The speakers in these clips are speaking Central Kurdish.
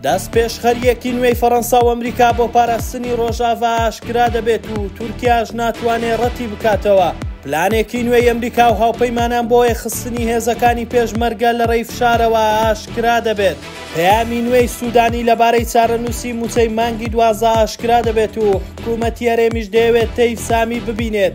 دەستپێشخەرییەکی نوێی فەڕەنسا و ئەمریکا بۆ پاراستنی ڕۆژاڤا ئاشکرا دەبێت و تورکیاش ناتوانێ ڕەتی بکاتەوە پلانێکی نوێی ئەمریکا و هاوپەیمانان بۆ یەخستنی هێزەکانی پێشمەرگە لە ڕێی فشارەوە ئاشکرا دەبێت پەیامی نوێی سوودانی لەبارەی چارەنووسی مووچەی مانگی دوازدە ئاشکرا دەبێت و حکوومەتی هەرێمیش دەیەوێت تەیف سامی ببینێت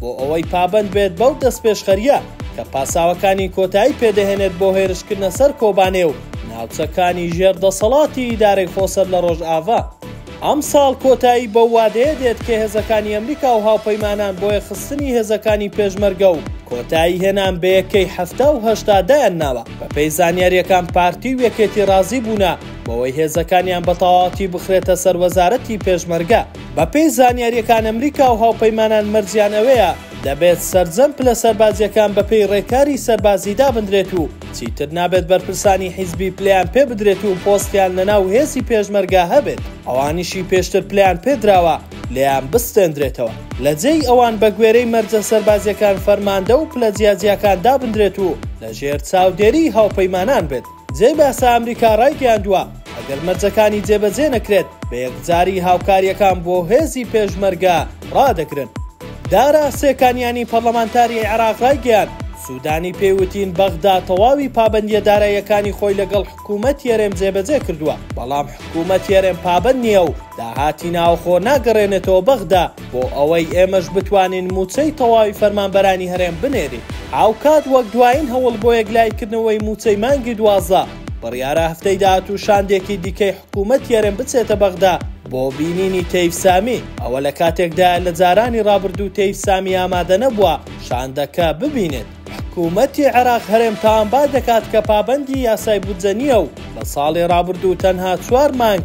بۆ ئەوەی پابەند بێت بەو دەستپێشخەرییە کە پاساوەکانی کۆتایی پێدەهێنێت بۆ هێرشکردنە سەر کۆبانێ و ناوچەکانی ژێر دەسەڵاتی ئیدارەی خۆسەر لە ڕۆژئاڤا. ئەمساڵ کۆتایی بەو وادەیە دێت کە هێزەکانی ئەمریکا و هاوپەیمانان بۆ یەخستنی هێزەکانی پێشمەرگە و کۆتایی هێنان بە یەکەی حەفتا و هەشتا دایان ناوە. بەپێی زانیارییەکان پارتی و یەکێتی ڕازی بوونە بەوەی هێزەکانیان بە تەواوەتی بخرێتە سەر وەزارەتی پێشمەرگە. بەپێی زانیارییەکان ئەمریکا و هاوپەیمانان مەرجیان ئەوەیە دەبێت سەرجەم پلە سەربازییەکان بەپێی ڕێکاری سەربازی دابندرێت و چیتر نابێت بەرپرسانی حیزبی پلەیان پێ بدرێت و پۆستیان لەناو هێزی پێشمەرگە هەبێت ئەوانیشی پێشتر پلەیان پێ دراوە لێیان بستێندرێتەوە لە جێی ئەوان بەگوێرەی مەرجە سەربازییەکان فەرماندە و پلە جیاجیاکان دابندرێت و لەژێر چاودێریی هاوپەیمانان بێت. جێی باسە ئەمریکا ڕایگەیاندووە، ئەگەر مەرجەکانی جێبەجێ نەکرێت، بە یەکجاری هاوکارییەکان بۆ هێزی پێشمەرگە ڕادەگرن. دارا سێکانیانی پەڕلەمانتاری عێراق ڕایگەیاند، سوودانی پێی وتین بەغدا تەواوی پابەندییە داراییەکانی خۆی لەگەڵ حکوومەتی هەرێم جێبەجێ کردووە، بەڵام حکوومەتی هەرێم پابەند نییە و داهاتی ناوخۆ ناگەڕێنێتەوە بەغدا. بۆ ئەوەی ئێمەش بتوانین مووچەی تەواوی فەرمانبەرانی هەرێم بنێرین هاوکات وەک دوایین هەوڵ بۆ یەکلاییکردنەوەی مووچەی مانگی دوازدە بڕیارە هەفتەی داهاتوو شاندێکی دیکەی حکوومەتی هەرێم بچێتە بەغدا بۆ بینینی تەیف سامی ئەوە لە کاتێکدایە لە جارانی ڕابردوو تەیف سامی ئامادە نەبووە شاندەکە ببینێت حکوومەتی عێراق هەرێم تاوانبار دەکات کە پابەندی یاسای بودجە نییە و لە ساڵی ڕابردوو تەنها چوار مانگ